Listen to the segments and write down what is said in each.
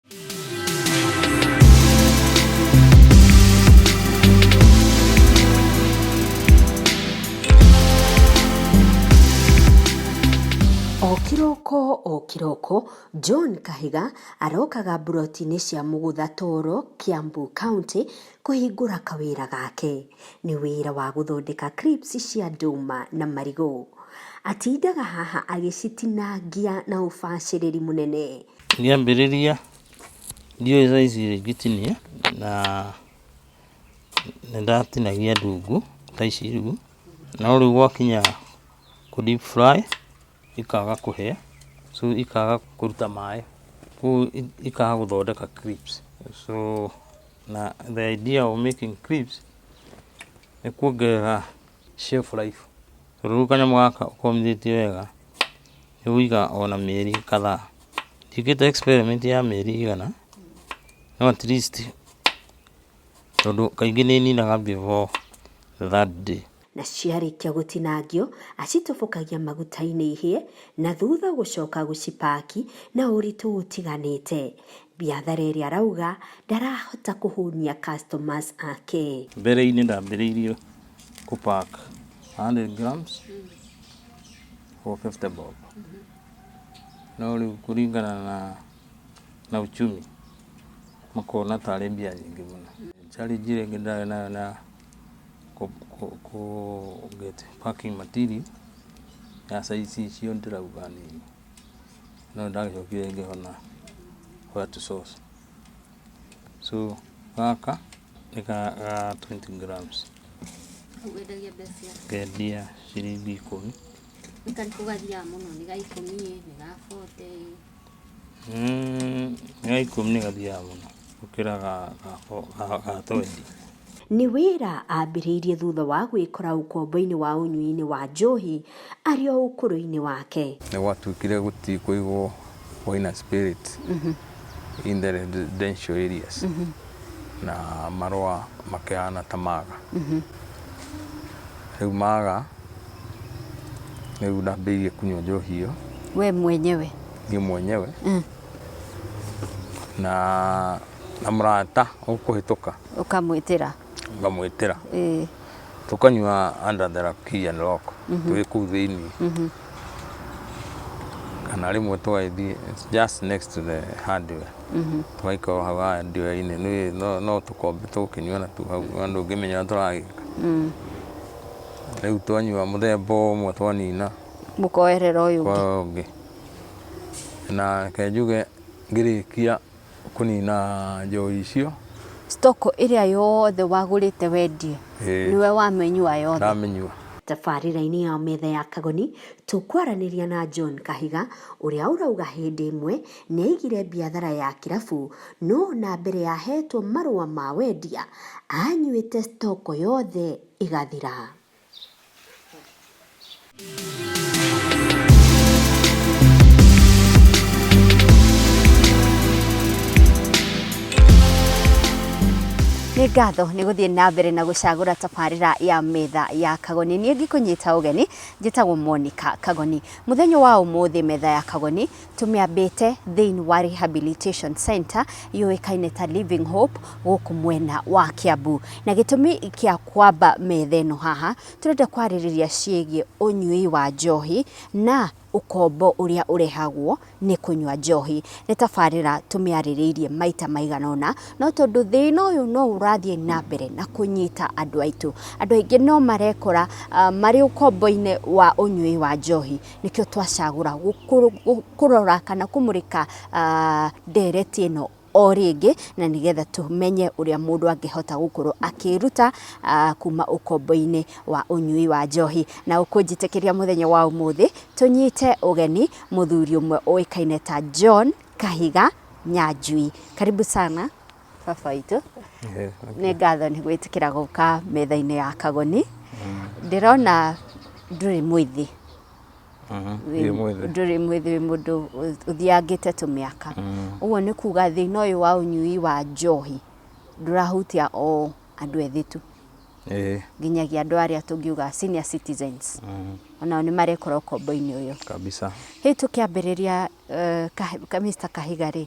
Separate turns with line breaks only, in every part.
O kĩroko o kĩroko John Kahiga arokaga mburoti-inĩ cia mũgũtha Toro, Kiambu County kũhingũra kawĩra gake. Nĩ wĩra wa gũthondeka crisps cia ndũma na marigũ. Atindaga haha agĩcitinangia na ũbacĩrĩri mũnene. Ngĩambĩrĩria
ndiũĩ thaa ici rĩ ngĩtinia na nĩndatinagia ndungu ta ici rĩu, no rĩu gwakinya kũ deep fry ikaga kũhĩa, so ikaga kũruta maĩ, koguo ikaga gũthondeka crips. So na the idea of making crips nĩ kuongerera Shelf life. Rĩu kanyamũ gaka ũkomithĩtie wega nĩ ũgũikara ona mĩeri kadhaa. Njĩkĩte experiment ya mĩeri igana no at least tondũ kaingĩ nĩ ninaga before the third day. Na ciarĩkia
gũtinangio acitobokagia maguta-inĩ ihĩe na thutha gũcoka gũcipaki na ũritũ ũtiganĩte. Biathareri arauga ndarahota kũhũnia customers ake. Mbereinĩ ndambĩrĩirie
kũ pack 100 grams for 50 bob no rĩu kũringana na na uchumi makona tarĩ mbia nyingĩ mũno. Challenge ĩrĩa ĩngĩ ndarĩ nayo na kũ get packing material ya size icio ndĩrauga nĩ no ndagĩcokire ngĩhona white sauce. So gaka nĩ ga twenty grams
ngendia
ciringi ikũmi. Nĩ karĩkũ
gathiaga mũno nĩ ga ikũmi
ĩ nĩ ga bote ĩ? Ga ikũmi nĩ gathiaga mũno gũkĩra ga twenty. Nĩ
wĩra aambĩrĩirie thutha wa gwĩkora ũkombo-inĩ wa ũnyui-inĩ wa njohi arĩ o ũkũrũ-inĩ wake. Nĩ gwatuĩkire
gũtirĩ kũigwo wine spirits in the residential areas na marũa makĩhana ta maga. Rĩu maga rĩu ndambĩrĩirie kũnyua njohi ĩyo We mwenyewe.
niĩ mwenyewe
na na mũrata ũkũhĩtũka Ũkamwĩtĩra.
Ngamwĩtĩra.
Ĩĩ. Tũkanyua under the key and lock. Twĩ kũu thĩinĩ. Kana rĩmwe tũgagĩthiĩ just next to the hardware. Tũgaikara o hau hardware-inĩ. Nĩ- no- No tũkombe tũgũkĩnyua na tu hau. Ona ndũngĩmenya ũrĩa tũragĩka. Rĩu twanyua mũthemba ũmwe twanina Mũkoerera
ũyũ ũngĩ. kwa ũyũ ũngĩ.
Na reke njuge ngĩrĩkia Kũnina njohi icio. Stock ĩrĩa
yothe wagũrĩte wendie Ĩĩ. nĩwe wamĩnyua yothe. Ndamĩnyua.
Tabarĩra-inĩ ya Metha ya
Kagoni, tũkwaranĩria na John Kahiga, ũrĩa ũrauga hĩndĩ ĩmwe nĩ aigire biathara ya kĩrabu, no o na mbere ya ahetwo marũa ma wendia, aanyuĩte stock yothe ĩgathira. nĩ ngatho nĩ gũthiĩ na mbere na gũcagũra tabarĩra ya metha ya kagoni niĩ ngĩkũnyita ũgeni njĩtagwo monica kagoni mũthenya wa ũmũthĩ metha ya kagoni Tũmĩambĩte thĩinĩ wa Rehabilitation Centre yũĩkaine ta Living Hope gũkũ mwena wa Kiambu. Na gĩtũmi kĩa kwamba metha ĩno haha, tũrenda kwarĩrĩria ciĩgiĩ ũnyui wa njohi na ũkombo ũrĩa ũrehagwo nĩ kũnyua njohi. Nĩ tabarĩra tũmĩarĩrĩirie maita maigana ũna, no tondũ thĩna ũyũ no ũrathiĩ na mbere na kũnyita andũ aitũ, andũ aingĩ no marekora marĩ ũkombo-inĩ wa ũnyui wa njohi. nĩkĩo twacagũra kũrora kana kũmũrĩka ndereti ĩno o rĩngĩ na nĩgetha tũmenye ũrĩa mũndũ angĩhota gũkorwo akĩruta kuma ũkombo-inĩ wa ũnyui wa njohi. Na ũkũnjĩtĩkĩria mũthenya wa ũmũthĩ tũnyite ũgeni mũthuri ũmwe ũĩkaine ta John Kahiga Nyanjui. Karibu sana. Baba witũ, nĩ ngatho nĩ gwĩtĩkĩra gũka metha-inĩ ya Kagoni. Ndĩrona ndũrĩ mwĩthĩ. Ndũrĩ mwĩthĩ wĩ mũndũ ũthiangĩte tũmĩaka. Ũguo nĩ kuga thĩna ũyũ wa ũnyui wa njohi ndũrahutia o andũ ethĩ tu, nginyagia andũ arĩa tũngiuga senior citizens, onao nĩ marekora ũkombo-inĩ ũyũ. Hihi tũkĩambĩrĩria Mister Kahiga rĩ,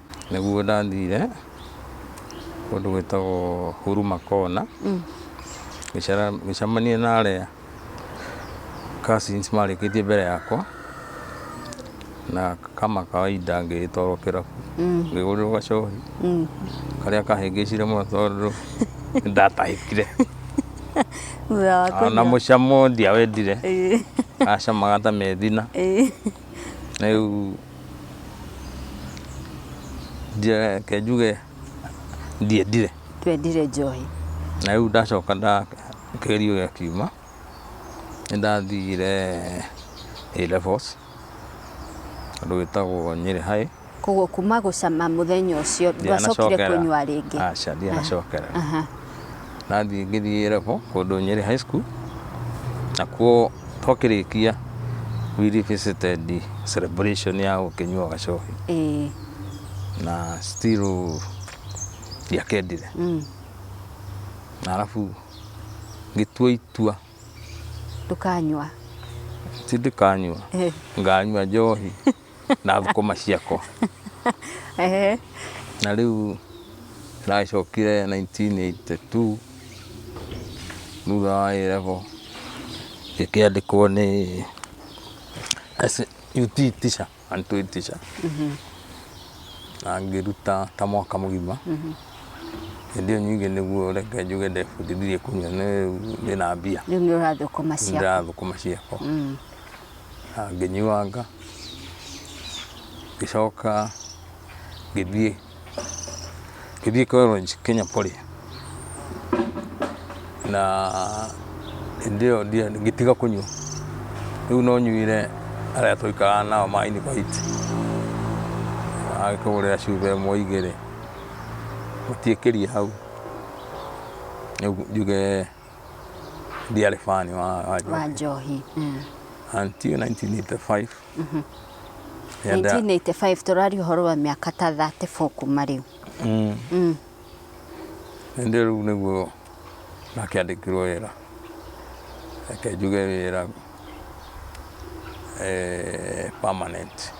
Nĩguo
ndathire kũndũ gwĩtagwo Huruma Corner, ngĩcera- ngĩcemania na arĩa cousins marĩkĩtie mbere yakwa, na kama kawaida ngĩgĩtwarwo kĩrabu, ngĩgũrĩrwo gacohi karĩa kahĩngĩcire mũno tondũ ndatahĩkire, Thutha wa ona kũnyua. mũcamo ndiawendire, Ĩĩ. gacamaga ta methina, Ĩĩ. rĩu reke njuge ndiendire twendire njohi na
rĩu ndacoka
nda kĩgerio gĩakiuma nĩ ndathire A levels andũ wĩtagwo Nyĩrĩ High koguo kuma
gũcama mũthenya ũcio ndwacokire Ndianacokera. kũnyua rĩngĩ aca ndianacokera
Aha. nathiĩ ngĩthiĩ A level kũndũ Nyeri High School, nakuo twakĩrĩkia we revisited celebration ya gũkĩnyua gacohi Ĩĩ. na still ndiakendire Mm. na arabu ngĩtua itua
Ndũkanyua.
ti ndikanyua Ĩĩ. nganyua njohi na thũkũma ciako Ehe. na rĩu ndacokire 1982 thutha wa A-level ngĩkĩandĩkwo nĩ as a UT teacher and two teacher na ngĩruta ta mwaka mũgima hĩndĩ ĩyo nyingĩ nĩguo reke njuge ndebundithirie kũnyua nĩ rĩu ndĩna mbia rĩu nĩ ũrathũkũma
ciaku ndĩrathũkũma ciako
na ngĩnyuanga, ngĩcoka ngĩthiĩ ngĩthiĩ college Kenya Poly, na hĩndĩ ĩyo ngĩtiga kũnyua, rĩu no nyuire arĩa twaikaraga nao ma Invite, agakĩgũrĩra cuba ĩmwe igĩrĩ, gũtiĩkĩrie hau, rĩu njuge. ndiarĩ fani wa wa njohi. wa njohi mm.
until
1985 Yenda-
1985 tũrari ũhoro wa mĩaka ta 34 kuma rĩu Mm. Mm.
Hĩndĩ ĩyo rĩu nĩguo nakĩandĩkirwo wĩra reke njuge wĩra eh, permanent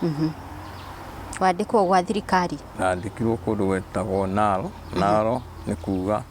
wandĩkwo gwa thirikari nandĩkirwo kũndũ
gwetagwo naro naro nĩ kuga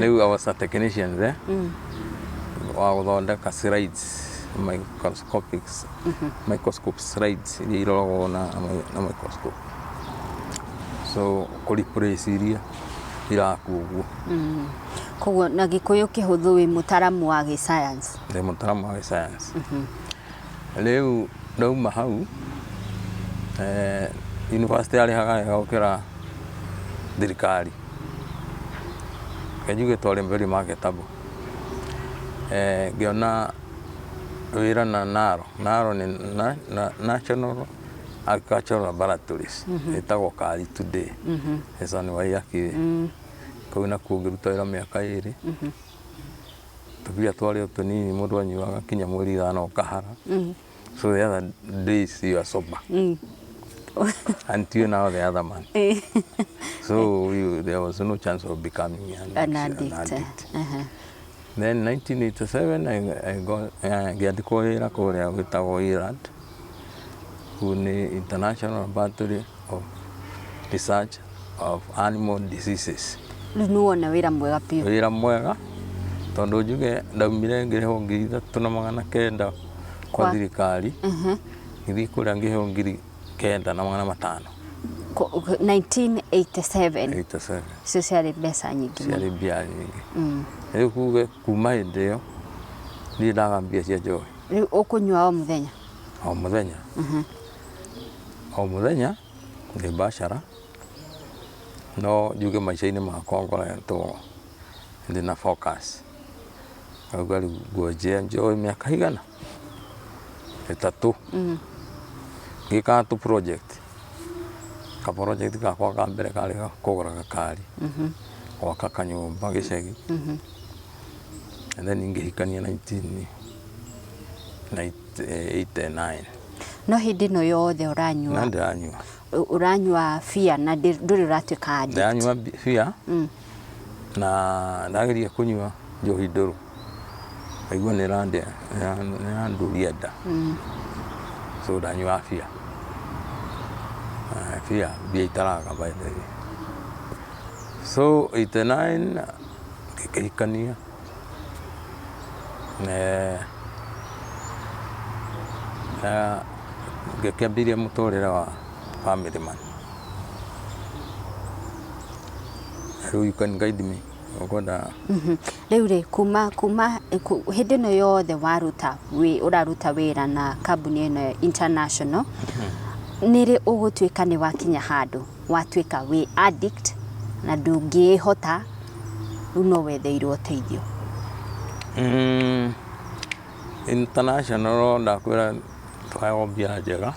rĩu I was a technician there wa gũthondeka slides microscopic microscope slides iria iroragwo na na microscope so kũ replace iria irakuo ũguo koguo
na gĩkũyũ kĩhũthũ wĩ mũtaramu wa gĩ science ndĩ mũtaramu wa gĩ
science Rĩu ndauma hau, yunibacĩtĩ yarĩhaga wega gũkĩra thirikari, reke njuge to rĩ very marketable. Ngĩona wĩra na NARO, NARO nĩ National Agricultural Laboratories, ĩtagwo Kari Today, Hassan Waiyaki, kũu nakuo ngĩruta wĩra mĩaka ĩrĩ. tũbia twarĩ o tũnini mũndũ anyuaga kinya mweri ithano ũkahara mm. so the other days you are sober mm. until now the other man eh. so we, there was no chance of becoming an, an addict, an addict. Uh -huh. then 1987 I, I got uh, ngĩandĩkwo wĩra kũrĩa gwĩtagwo Irad who ni International Laboratory of Research of Animal Diseases. rĩu nĩ wona
wĩra mwega biũ Wĩra mwega
tondũ njuge ndaumire ngĩrĩhwo ngiri ithatũ na magana kenda Kwa- kwa thirikari Mhm. ngĩthiĩ kũrĩa ngĩheo ngiri kenda na magana matano Ko- 1987 87
icio ciarĩ mbeca nyingĩ mũno. ciarĩ mbia nyingĩ
rĩu kuge Kuma hindi iyo ndirĩ ndaga mbia cia njohi. Riu ukunyua o
muthenya? O
muthenya. O muthenya ni mbacara no njuge maica-ini makwa ngoretwo ndina focus. Ngauga riu ngwajia njoe miaka igana. ĩtatũ
ngĩkaga tũ project. Ka project gakwa ka mbere karĩ ga kũgũra gakari, gwaka kanyũmba gĩcagi and then ngĩhikania nineteen eighty nine. No
hĩndĩ ĩno yothe Na ũranyua ndĩranyua.
ũranyua
beer na ndĩ- ndũrĩ ũratuĩka addict. Ndĩranyua bi- beer
na ndageria kũnyua njohi ndũrũ ngaigua nĩ ĩrandĩa nĩ ĩra- nĩ ĩrandũria nda so ndanyua bia Ah, bia bia itaraga by the way so 89 ngĩkĩhikania Eeh ngĩkĩambĩrĩa mũtũrĩre wa family man rĩũ you can guide me ũkwenda Rĩu rĩ
kuma kuma ku- hĩndĩ ĩno yothe waruta wĩ- ũraruta wĩra na kambuni ĩno international nĩrĩ ũgũtuĩka nĩ wakinya handũ watuĩka wĩ addict na ndũngĩĩhota, rĩu no wetheirwo ũteithio. Mmh,
international ndakwĩra twaheagwo mbia njega,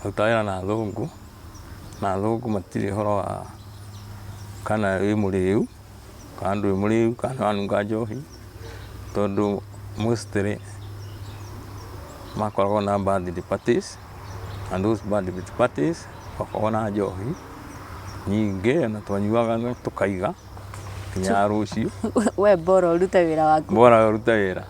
kũruta wĩra na athũngũ, na athũngũ matirĩ ũhoro wa kana wĩ mũrĩu. kana ndũrĩ mũrĩu kana nĩ wanunga njohi, tondũ mostly makoragwo na birthday parties na those birthday parties makoragwo na njohi nyingĩ na twanyuaga tũkaiga nginya rũciũ. We bora
ũrute wĩra waku. Bora we ũrute wĩra.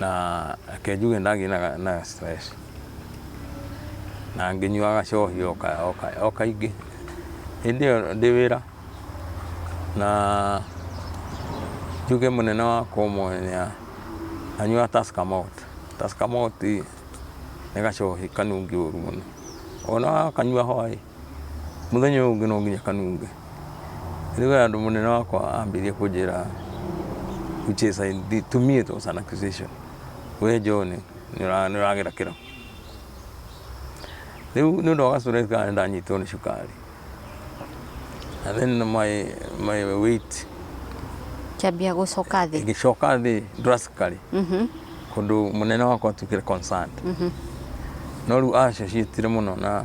na reke njuge ndagĩaga na stress na ngĩnyuaga gacohi o kaingĩ hĩndĩ ĩyo ndĩ wĩra. Na njuge mũnene wakwa ũmwe nĩ anyuaga Tusker Malt. Tusker Malt nĩ gacohi kanungi ũru mũno. Ona wakanyua hwaĩ. Mũthenya ũyũ ũngĩ no nginya kanunge. Rĩu we andũ mũnene wakwa ambĩrĩria kũnjĩra which is I, to me it was an accusation. We John nĩ ũragera kĩro. Rĩu nĩ ũndũ wa gastress kana nĩ ndanyitwo nĩ cukari. And then my, my weight
Kĩambia gũcoka thĩ. ĩgĩcoka thĩ
drastically kũndũ mũnene wakwa atuĩkire concerned. No rĩu acio ciĩtire mũno na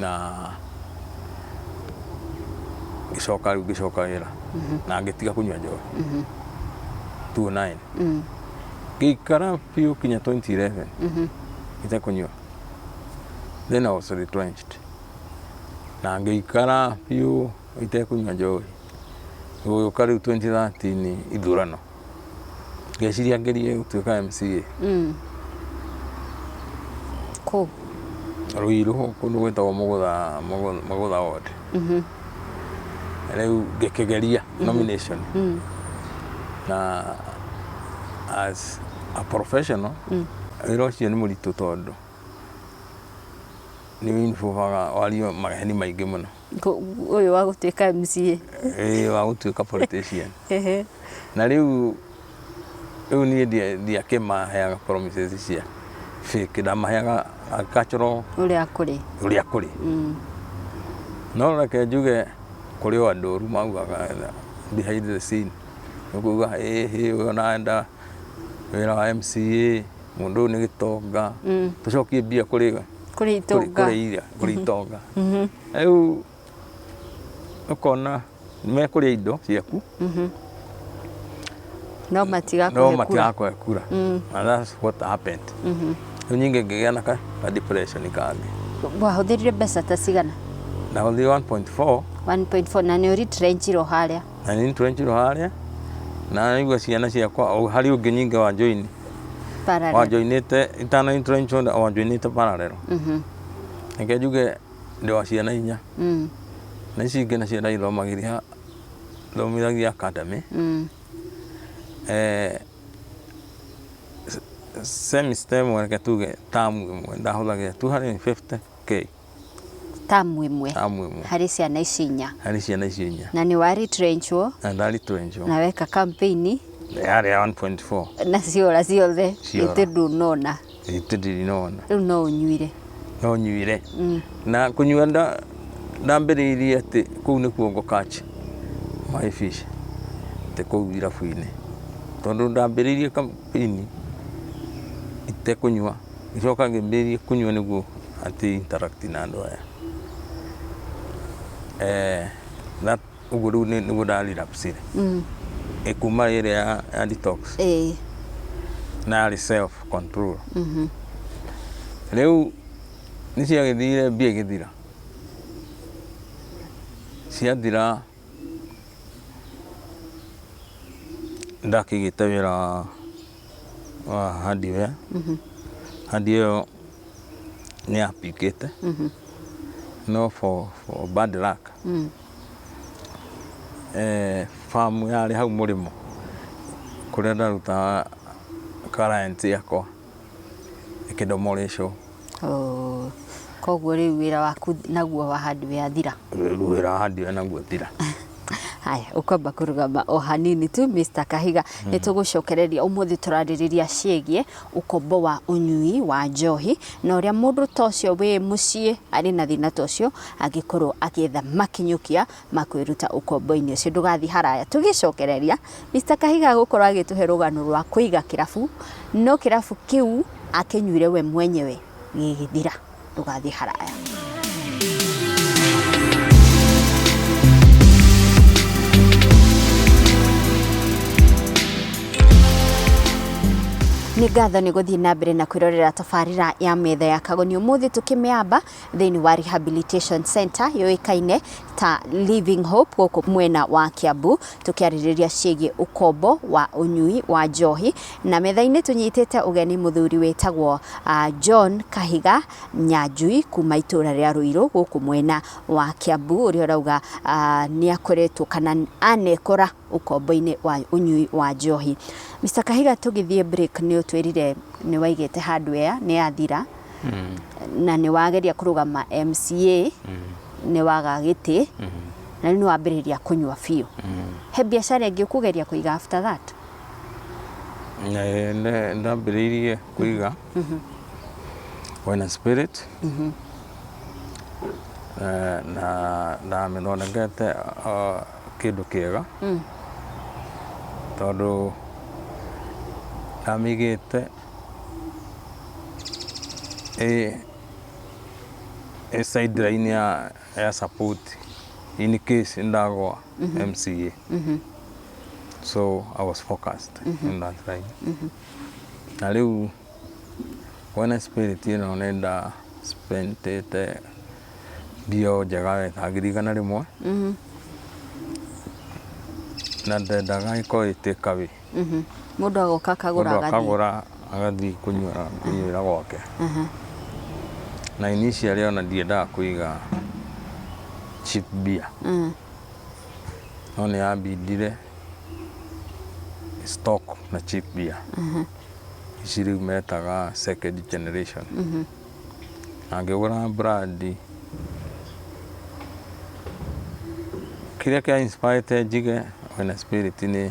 na ngĩcoka rĩu ngĩcoka wĩra na ngĩtiga kũnyua njohi 29 Mm. ngĩikara biũ kinya 2011 Mhm. itakũnyua then I was retrenched na ngĩikara biũ itekũnyua njohi gũgĩũka rĩu 2013 ithurano ngeciria ngerie gũtuĩka MCA. Mm.
Kũ? Ruiru
kũndũ gwĩtagwo mũgũtha Mũgũ- mũgũtha ward Mhm. rĩu ngĩkĩgeria nomination Mm. na as a professional wĩra ũcio nĩ mũritũ tondũ nĩ ũinvolvaga wario maheni maingĩ mũno ũyũ wa
gũtuĩka MCA ĩĩ wa gũtuĩka
politician Ehe. na rĩu rĩu niĩ ndia- ndiakĩmaheaga promises cia fake ndamaheaga agricultural ũrĩa kũrĩ
ũrĩa kũrĩ
Mm. no reke njuge kũrĩ o andũ ũru maugaga behind the scene nĩkuga ĩhĩ ũyũ nanda wĩra wa mca mũndũ ũyũ nĩ gĩtonga Mm. tũcokie mbia kũrĩ we kũrĩa itonga kũrĩa kũrĩa itonga mhm. rĩu ũkona mekũrĩa indo ciaku
mhm. no matigakũhe kura
mm. and that's what happened mhm. rĩu nyingĩ ngĩgĩa na ka depression kangĩ wahũthĩrire mbeca
ta cigana na hũthĩrire 1.4
1.4 na nĩ ũritrenjirwo
harĩa na nĩ ũritrenjirwo
harĩa na nĩguo ciana ciakwa harĩ ũngĩ nyingĩ wa joini wanjoinite itana introinchonde wanjoinite pararero mhm. reke njuge ndi wa ciana inya mm. na ici ingĩ nacio ndaithomagiria thomithagia academy mm. eh, semester ĩmwe reke tuge tamu ĩmwe ndahũthagĩra 250k
term ĩmwe tamu ĩmwe harĩ ciana ici inya harĩ ciana icio inya na nĩ wa retrenchwo na ndarĩ twenjo
na weka campaign
yarĩ ya 1.4
na ciora ciothe
Ciora. gĩtĩ ndũnona gitĩ ndirinona
rĩu no ũnyuire
no nyuire
na kũnyua nda- ndambĩrĩirie atĩ kũu nĩkuo ngo catch my fish atĩ kũu irabu-inĩ tondũ ndambĩrĩirie kampĩini itekũnyua Ngicoka ngĩambĩrĩria kũnyua nĩguo atĩ interact na andũ aya. Ũguo rĩu nĩguo nda relapse ire. Kuma ĩrĩa ya detox na yarĩ self control. Rĩu nĩ ciagĩthire mbia igĩthira. Ciathira nĩ ndakĩgĩte wĩra. wa hardware. Hardware ĩyo nĩ ya pick ĩte. No for for bad luck eh, farm yarĩ hau mũrĩmo kũrĩa ndarutaga client yakwa ĩkĩndomorĩcwo. Ooh.
Koguo rĩu wĩra waku naguo wa handware wathira. Rĩu wĩra wa handware
naguo wathira. Haya,
ũkwamba kũrũgama o hanini tu Mr. Kahiga. Nĩ tũgũcokereria ũmũthĩ tũrarĩrĩria ciĩgiĩ ũkombo wa ũnyui wa njohi na ũrĩa mũndũ ta ũcio wĩ mũciĩ arĩ na thĩna ta ũcio angĩkorwo agĩetha makinyũkia ma kwĩruta ũkombo-inĩ ũcio. Ndũgathiĩ haraya. Tũgĩcokereria, Mister Kahiga gũkorwo agĩtũhe rũgano rwa kũiga kĩrabu, no kĩrabu kĩu akĩnyuire we mwenyewe gĩgĩthira. Ndũgathiĩ haraya. Nĩ ngatho nĩ gũthiĩ na mbere na kwĩrorera tabarĩra ya metha ya kagoni ũmũthĩ tũkĩmĩamba thĩinĩ wa Rehabilitation Centre yũĩkaine ta Living Hope gũkũ mwena wa Kiambu tũkĩarĩrĩria ciĩgiĩ ũkombo wa ũnyui wa njohi na metha-inĩ tũnyitĩte ũgeni mũthuri wĩtagwo uh, John Kahiga Nyanjui kuma itũra rĩa Ruiru gũkũ mwena wa Kiambu ũrĩa ũrauga uh, nĩ akoretwo kana anekora ũkombo-inĩ wa ũnyui wa njohi Mr. Kahiga tũgĩthiĩ break nĩ ũtwĩrire nĩ waigĩte handũ ya nĩ yathira Mm. na nĩ wageria kũrũgama mca nĩ waga gĩtĩ na rĩu nĩ wambĩrĩria kũnyua biũ he biacara ĩngĩ ũkũgeria kũiga after that Eh, nda-
ndambĩrĩirie kũiga wena spirit Eh, na ndamĩthondekete ah, kĩndũ kĩega tondũ ndamĩigĩte ĩ sideline ya ya support in case ndagwa MCA so I was focused in that line na rĩu wena spirit ĩno nenda spendete mbio njega wega ngiri igana rĩmwe na ndendaga ĩkorwo ĩtĩka wĩ mũndũ agoka
akagũra mũndũ agathiĩ akagũra agathiĩ
kũnyuĩra kũnyuĩra gwake Aha. na initially ona ndiendaga kũiga cheap beer Mm. no nĩ yambindire stock na cheap beer ici rĩu metaga second generation na ngĩgũra brandi kĩrĩa kĩa inspirete njige wena spirit nĩ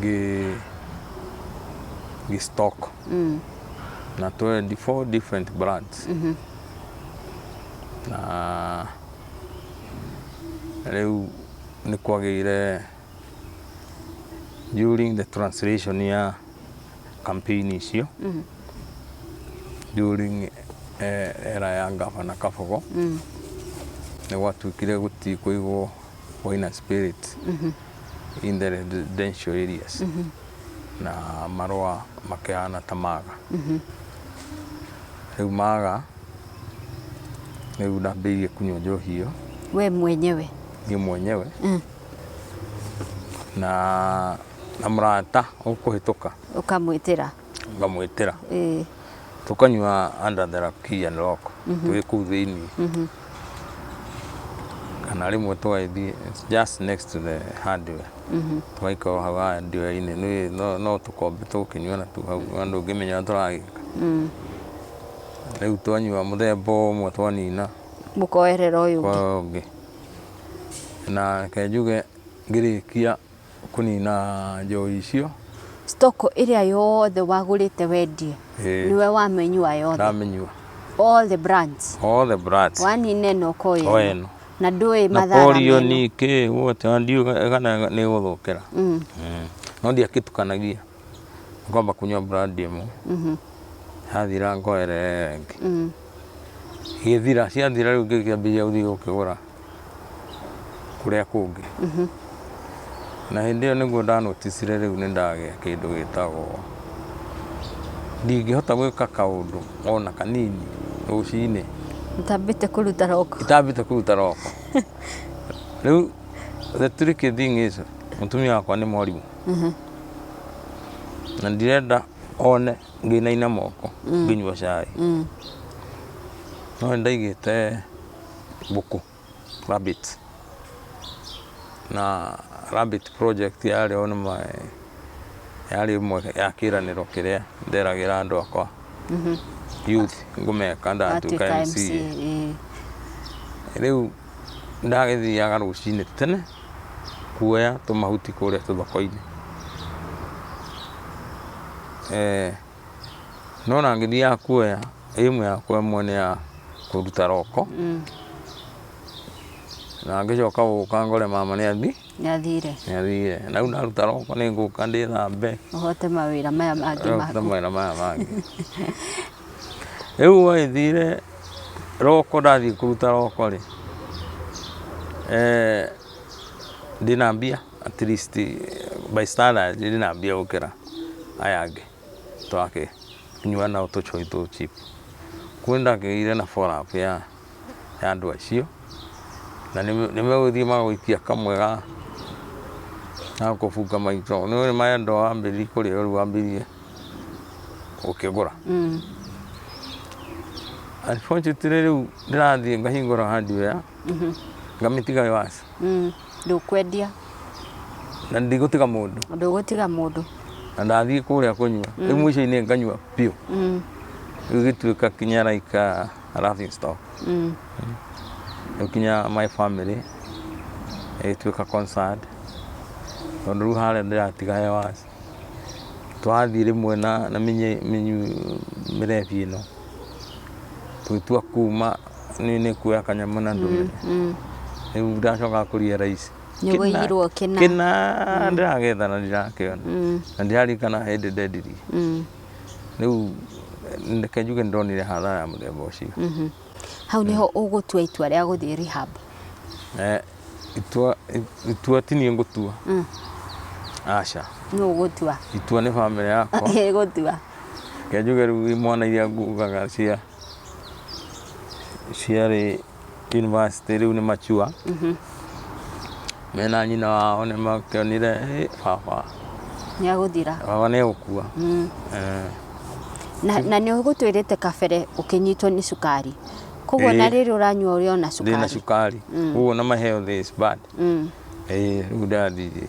gi gi stock mm. natoe di four different brands mm -hmm. na rĩu nĩ kwagĩire during the translation ya campaign icio mm -hmm. during eh, era ya ngavana kabogo mm. nĩ gwatuĩkire gũtikũigwo or in a spirit in the residential areas na marũa makĩhana ta maga rĩu maga rĩu ndambĩirie kunyua njohi ĩyo we mwenyewe
niĩ mwenyewe
Mm. na na mũrata ũkũhĩtũka ũkamwĩtĩra
ngamwĩtĩra
ĩĩ tukanyua under the key and lock twĩ kuu thĩinĩ kana rĩmwe tũgagĩthiĩ just next to the hardware tũgaikara o hau hardware-inĩ nĩ- no- no tũkombe tũgũkĩnyua na tu hau na ndũngĩmenya ũrĩa tũragĩka rĩu twanyua mũthemba ũmwe twanina mũkoerera
ũyũ ũngĩ kwa ũngĩ
na reke njuge ngĩrĩkia Kũnina njohi icio. Stock ĩrĩa
yothe wagũrĩte wendie Ĩĩ. nĩwe wamenyua yothe Ndamenyua.
all the
brands All the brands. wanine na ũkoya Oya ĩno. ĩno. na ndũĩ Na mathara korio meno. nĩ kĩ wote
ndiuga kana nĩ gũthũkĩra. Mm. Mm. No ndiakĩtukanagia. ngomba kunyua brandi ĩmwe yathira ngoerera ĩngĩ igĩthira ciathira rĩu ngĩkĩambĩrĩria gũthiĩ gũkĩgũra kũrĩa kũngĩ na hĩndĩ ĩyo nĩguo ndanoticire rĩu nĩ ndagĩa kĩndũ gĩtagwo ndingĩhota gwĩka kaũndũ ona kanini rũcinĩ Ũtambĩte
kũruta roko. itambĩte kũruta roko
rĩu the tricky thing is mũtumia wakwa nĩ mwarimũ na ndirenda one ngĩinaina moko ngĩnyua cai no nĩ ndaigĩte mbũkũ rabbit na rabbit project yarĩ o nĩma yarĩ ĩmwe ya kĩranĩro kĩrĩa nderagĩra andũ akwa youth ngũmeka ndatuĩka Atuĩka MC. MCA, eh. rĩu nĩndagĩthiaga rũcinĩ tene kuoya tũmahuti kũrĩa tũthoko-inĩ. No ona ngĩthiaga kuoya, aim yakwa ĩmwe nĩ ya kũruta roko, na ngĩcoka gũka ngore mama nĩathiĩ. Nĩ athire. Nĩ athire. Na rĩu ndaruta roko nĩ ngũka ndĩthambe. Ũhote mawĩra
maya mangĩ maku. Ũhote mawĩra maya mangĩ.
Rĩu gwagĩthire roko ndathiĩ kũruta roko rĩ, eh, ndĩ na mbia at least by standard ndĩ na mbia gũkĩra aya angĩ twakĩnyua nao tũcũrũri tũu cheap. Kwĩ nĩ ndakĩgĩire na follow up ya... ya andũ acio, na nĩmegũthiĩ magũikia kamwe ga gakũbunga maitho, nĩũĩ nĩ marenda o wambĩrĩrie kũrĩa rĩu wambĩrĩrie gũkĩgũra. Unfortunately rĩu ndĩrathiĩ ngahingũra hardware ngamĩtiga ĩyo aca. Ndũkwendia. Na ndigũtiga mũndũ. Ndũgũtiga mũndũ. Na ndathiĩ kũrĩa kũnyua, rĩu mũico-inĩ nganyua biũ. Rĩu gĩtuĩka kinya like I love you stop Mm. nginya my family ĩgĩtuĩka concerned tondũ rĩu harĩa ndĩratiga hewas twathiĩ rĩmwe na na mĩnye- mĩnyu mĩrebi ĩno tũgĩtua kuma nĩ nĩ kuoya kanyamũ na ndũme Mm. rĩu ndacoka kũria raici Nĩgũiyirwo kĩna.
kĩna
ndĩragetha na ndirakĩona Mm. na ndĩrarikana hĩndĩ ndendirie Mm. rĩu reke njuge nĩ ndonire hathara ya mũthemba ũcio Mhm. hau nĩho
ũgũtua itua rĩa gũthiĩ rehab Eh, itua
itua ti niĩ ngũtua Mm. aca nĩ ũgũtua
itua nĩ bamĩrĩ
yakwa ĩgũtua
reke njuge
rĩu mwana iria ngugaga cia ciarĩ university rĩu nĩ mature mena nyina wao nĩ makĩonire "Ĩ, baba nĩ agũthira
baba nĩ egũkua
Mm. Eh,
na, na nĩ ũgũtwĩrĩte kabere ũkĩnyitwo nĩ cukari koguo Ĩĩ. na rĩrĩ ũranyua ũrĩ ona ndĩ na cukari cukari Mm.
ũguo na maheo this bad Mm. Eh, rĩu ndathire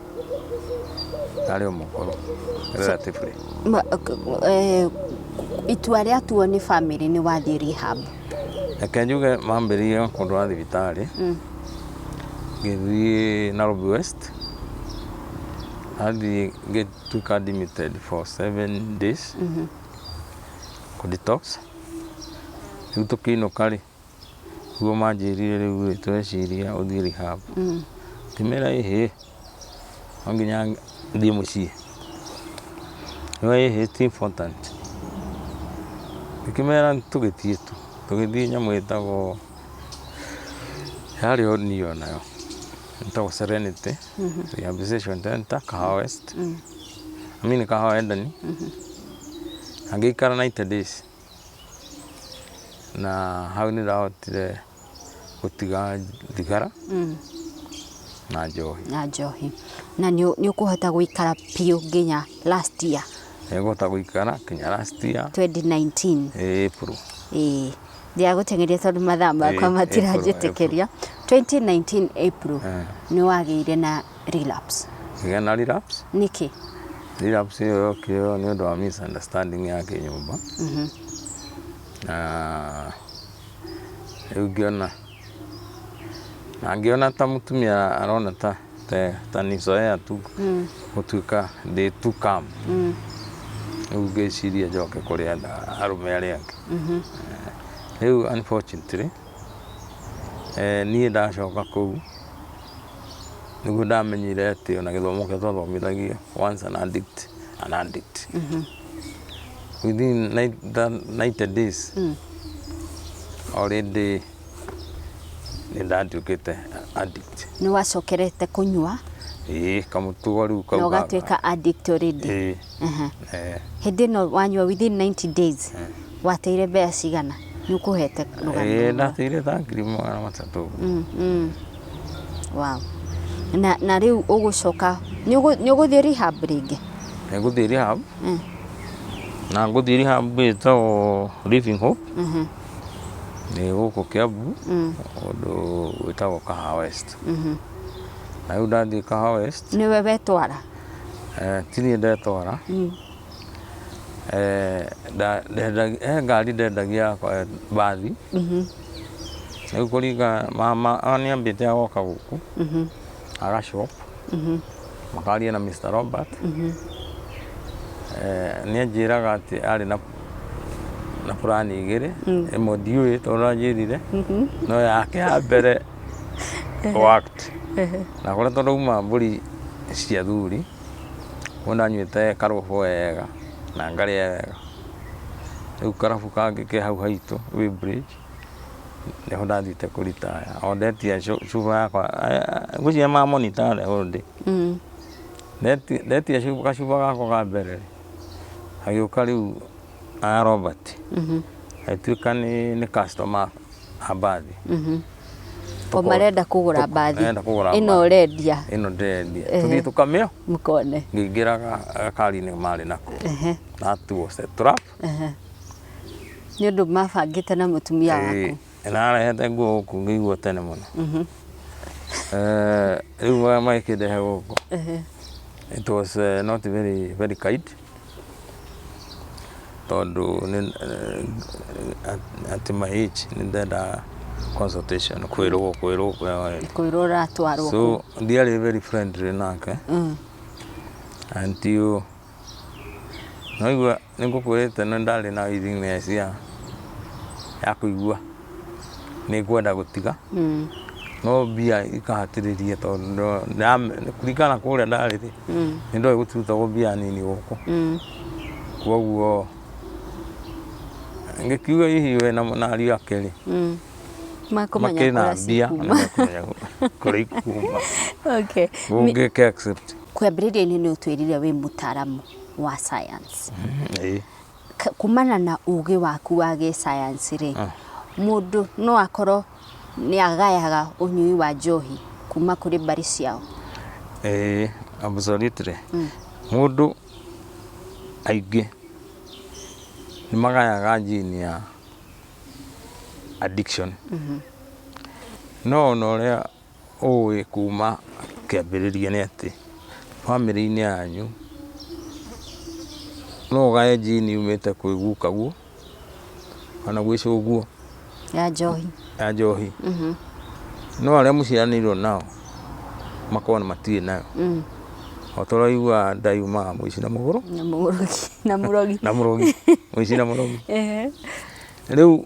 arĩ o mũkũrũ relatively Ma- k- eh,
itua rĩa tuo nĩ bamĩrĩ nĩ wathiĩ rehab reke njuge
mambĩrĩire kũndũ wa thibitarĩ Mm. ngĩthiĩ Nairobi West athiĩ ngĩtuĩka admitted for seven days kũ detox rĩu tũkĩinũka rĩ Nĩguo manjĩrire rĩu ĩ, tũreciria ũthiĩ rehab. Ngĩmera ĩ hĩ, no nginya thiĩ mũciĩ. Makiuga ĩ hĩ ti important. Ngĩkĩmera tũgĩthiĩ tu. Tũgĩthiĩ nyamũ ĩtagwo, yarĩ o niũ o nayo, ĩtagwo Serenity Rehabilitation Centre, Kahawa West, I mean Kahawa Edeni, na ngĩikara ninety days. na hau nĩ ndahotire gũtiga thigara na njohi. na njohi na nĩ
nĩ ũkũhota gũikara biũ nginya last year Nĩngũhota gũikara
kinya last year 2019 eh,
April.
ĩĩ
ndiagũteng'eria tondũ mathaa makwa Ĩĩ, matiranjĩtĩkĩria 2019 April Eh. nĩ wagĩire na relapse Kĩgĩa na relapse
nĩkĩ
relapse ĩyo
yokire nĩ ũndũ wa misunderstanding ya kĩnyũmba na rĩu ngĩona na ngĩona ta mũtumia arona ta ta- ta nicoea tu gũtuĩka ndĩ tu kam rĩu ngĩciria njoke kũrĩ andũ- arũme arĩa angĩ rĩu unfortunately eh, niĩ ndacoka kũu Nĩguo ndamenyire atĩ ona gĩthomo kĩrĩa twathomithagio once an addict, an addict. Within nine- that 90 days already nĩ ndatuĩkĩte addict. Nĩ wacokerete
kũnyua Ĩĩ kamũtugo
rĩu na kau gaka. ũgatuĩka addict
already. Ĩĩ. Aha. Eh, hĩndĩ ĩno wanyua within 90 days wateire mbea cigana nĩ ũkũhete eh, rũgano ndateire tha ngiri
magana matatũ Mm, mm.
wow na, na rĩu ũgũcoka nĩ ũgũ- nĩ ũgũthiĩ rehab rĩngĩ ngũthiĩ rehab
Mm. na ngũthiĩ rehab ĩtagwo living hope Mhm, nĩ gũkũ kĩambu mm, ũndũ wĩtagwo kaha west mhm. na rĩu ndathiĩ kaha west nĩwe wetwara
Eh, ti
niĩ ndetwara Mm. Eh, nda- ndendagia- he ngari ndendagia yakwa eh, mbathi Mhm. rĩu kũringa mama nĩambĩte agoka gũkũ Mhm. agashop Mhm. makaria na mr robert Mhm. Eh, nĩanjĩraga atĩ arĩ na na burani igĩrĩ ĩmwe ndiũĩ tondũ anjĩrire Mhm. no yake ya mbere to act na kũrĩa tũrauma mbũri cia thuri wona nyuĩte karobo wega na ngarĩa wega rĩu karabu kangĩ ke hau haitũ wĩ break nĩho ndathiĩte kũritaya o ndetia cu- cuba yakwa eh, ngwĩciria ma monitor the whole day Mm. Ndeti- ndetia cuba- gacuba gakwa ka mbere agĩũka rĩu a Robert agĩtuĩka nĩ nĩ customer a mbathi
o marenda kũgũra mbathi marenda kũgũra ĩno mbathi. ũrendia ĩno ndĩrendia
Ehe. tũthiĩ tũkamĩo mũkone ngĩingĩra
ga-
gakari-inĩ marĩ nako Ehe, natuo setrap ehe.
nĩ ũndũ mabangĩte na mũtumia waku narehete nguo
gũkũ ngĩigua tene mũno Eh, rĩu magĩkĩndehe gũkũ Ehe, it was eh, not very very kind tondũ at my age nĩ ndendaga consultation kwĩrwo kwĩrwo kwĩrwo ũratwarwo so ndiarĩ very friendly nake until naigua nĩ ngũkwĩrĩte nĩ ndarĩ na willingness ya ya kũigua nĩ ngwenda gũtiga Mm. no mbia ikahatĩrĩria tondũ ndĩra- kũringana kũrĩa ndarĩ rĩ Mm. nĩ ndoĩ gũtirutagwo mbia nini gũkũ Mm. kwoguo ngĩkiuga hihi we na na ariũ ake rĩ Mm. Makũmenya makĩrĩ na kũrĩa mbia cikuma. na makũmenya kũrĩa ikuma Okay.
Mi- ũngĩka accept
Kwambĩrĩria-inĩ nĩ
ũtwĩrire wĩ mũtaaramu wa science. Ĩĩ.
K- kumana
na ũgĩ waku wa gĩsayansi rĩ Ah. mũndũ no akorwo nĩ agayaga ũnyui wa njohi kuma kũrĩ mbarĩ ciao Eh, absolutely.
Mũndũ aingĩ nĩ magayaga njini ya addiction. No ona ũrĩa ũĩ kuma kĩambĩrĩria nĩ atĩ, bamĩrĩ-inĩ yanyu, no ũgae njini yumĩte kwĩ gukaguo, kana gwĩ cũguo. Ya njohi.
Ya njohi.
No arĩa mũciaranĩirwo nao, makoragwo nĩ matirĩ nayo. O ta ũrĩa wĩiguaga nda yumaga mũici na mũgũrũ. Na
mũrogi. Na mũrogi.
Mũici na mũrogi. Rĩu.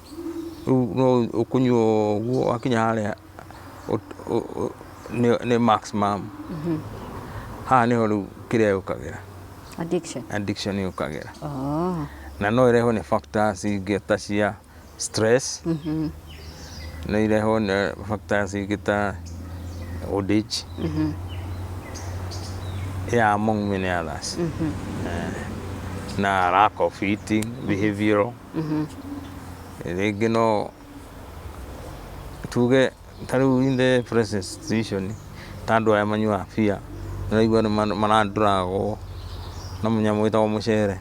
rĩu no ũkũnyua ũguo wakinya harĩa ũt- ũ- ũ- nĩ- nĩ maximum haha nĩho rĩu kĩrĩa yũkagĩra addiction addiction yũkagĩra oh. na no ĩrehwo nĩ factors ingĩ ta cia stress no irehwo nĩ factors ingĩ ta old age ya among many others Eh, na lack of eating behavioral Rĩngĩ no tuge ta rĩu in the present situation ta andũ aya manyuaga beer ndĩraigua marandũragwo na mũnyamũ wĩtagwo mũcere.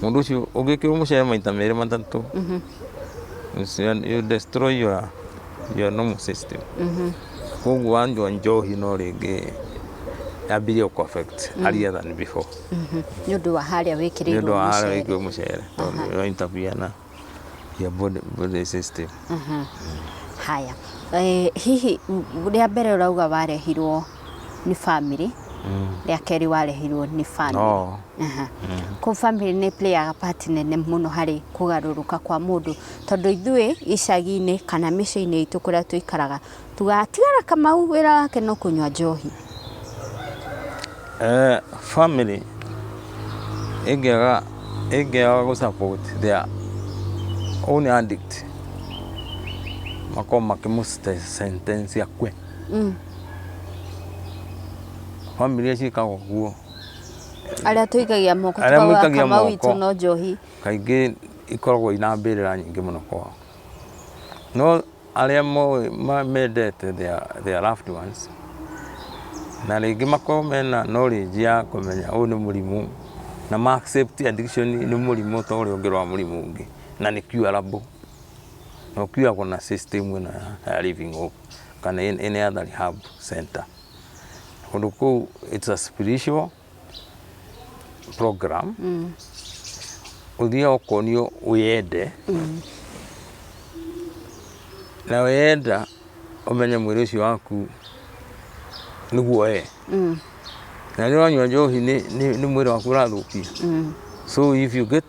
Mũndũ ũcio ũngĩkĩrwo mũcere maita merĩ matatũ you destroy your normal system. Koguo wanyua njohi no rĩngĩ yambĩrĩrie gũkũ affect earlier than before. nĩ ũndũ wa
harĩa nĩ ũndũ wĩkĩrĩirwo wa harĩa mũcere wĩkĩrwo mũcere
tondũ ĩyo interview ya na ya body, body system
haya Eh, hihi m- rĩa mbere ũrauga warehirwo nĩ bamĩrĩ rĩa kerĩ warehirwo nĩ bamĩrĩ no Aha. kå bamĩrĩ nä playaga part nene må no harä kå garå rå ka kwa må ndå tondå ithuä icagi-inä kana mä ciä-inä itå kå rä a tå ikaraga Tũgatigara Kamau wĩra wake no kũnywa njohi. Eh,
family ĩngĩaga ĩngĩaga gũ support their own addict makorwo makĩmũ sentence akue mm. family ici ikaga ũguo arĩa tũikagia moko
arĩa mũikagia moko witũ no njohi kaingĩ
ikoragwo ina mbĩrĩra nyingĩ mũno kwao no Arĩa moĩ mendete their loved ones na rĩngĩ makorwo mena knowledge ya kũmenya ũyũ nĩ mũrimũ na ma accept addiction nĩ mũrimũ ta ũrĩa ũngĩ ũrwara mũrimũ ũngĩ na nĩ curable na ũ cure na system ĩno ya Living Hope kana any other rehab centre. Kũndũ kũu it's a spiritual. program ũthiaga ũkonio wĩyende na weyenda ũmenye mwĩrĩ ũcio waku nĩguo we na rĩrĩa ũranyua njohi nĩ nĩ- nĩ mwĩrĩ waku ũrathũkia so if you get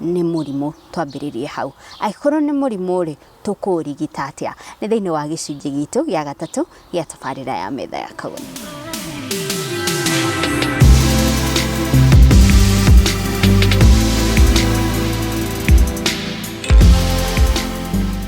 nĩ mũrimũ twambĩrĩrie hau. Angĩkorwo nĩ mũrimũ rĩ, tũkũũrigita atĩa? Nĩ thĩiniĩ wa gĩcunjĩ gitũ gĩa gatatũ gĩa tabarĩra ya metha ya kagũnũ.